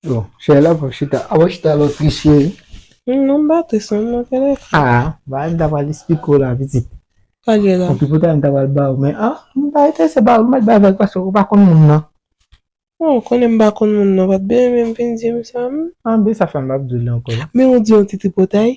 Bon, chè la pou chita. A wè chita lò tris chè. Non m pa tris non mwen kèlè. A, ba m ta pral esplike w la pitit. Sa gen la. Epi poutèt m ta pral ba w men a, m pa enterese ba w, m mèt bay vag paske w pa konn moun nan. Bon, ou konnen m pa konn moun nan, w pa t byen renmen m vin di m sa m. An, ben sa fè m pa p di w l ankò. Men ou di yon ti tripotay.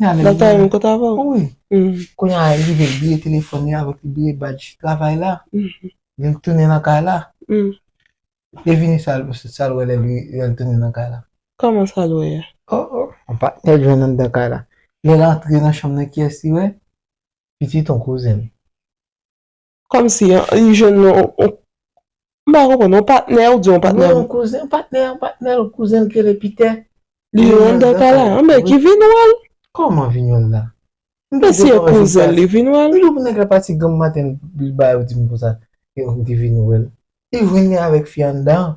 Nan ta yon kot avan. Wi. Kounye a li rive bliye telefòn li avèk li bliye badj travay la. Li tounen nan kay la. Li vini sa l wè lè li tounen nan kay la. Kòman sa l wè a? O o. Yon patnè l jwenn anndan kay la. Lè l antre nan chanm nan kiyès li wè? Pitit yon kouzen l. Kòmsi an, li jwenn yon, m pa konprann, yon patnè, ou di yon patnè? Non, yon kouzen, yon patnè, yon patnè l, kouzen l ki rele Pitè. Li jwenn anndan kay la. Anben, ki vin wè l. Kòman vin wè l la? M te di yo kòman vin wè l. Li vin wè l. M di w pou nèg la pati granm maten li ba yo di m konsa, m te vin wè l. Li vin li avèk fi anndan.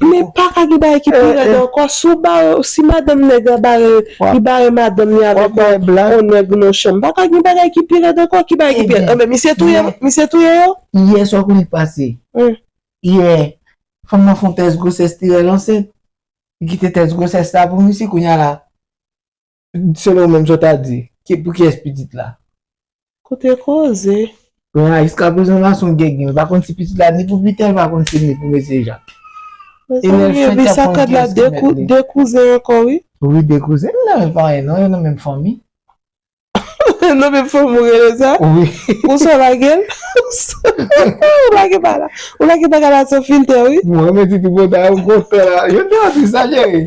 Men paka gen bagay ki pi rèd ankò si w bare si madanm nèg la bare li bare madanm li avèk yon nèg nan chanm paka gen bagay ki pi rèd ankò ki bagay ki pi rèd anben misye touye misye touye yo. Yè sa w konnen k pase yè fanm nan fon tès gwosès li rèl ansent li kite tès gwosès la pou misye kounya la Selon ou menm sa w ta di? Pou kiyès pitit la? Kote koze! Bon a jiskaprezan la son gègè l pa konn si pitit la ni pou Piter l pa konn si ni pou mesye Jak. Mezanmi epi sakad la 2 kouzen ankò wi. Wi 2 kouzen nan menm paran non yo nan menm fanmi. Nan menm fanmi ou rele sa? Wi. Pou sa w lage l? Ou lage bagay la ou lage bagay la san filtè wi. Mwen menm ti tripotay ou gontan la. Yo te an di sa cheri?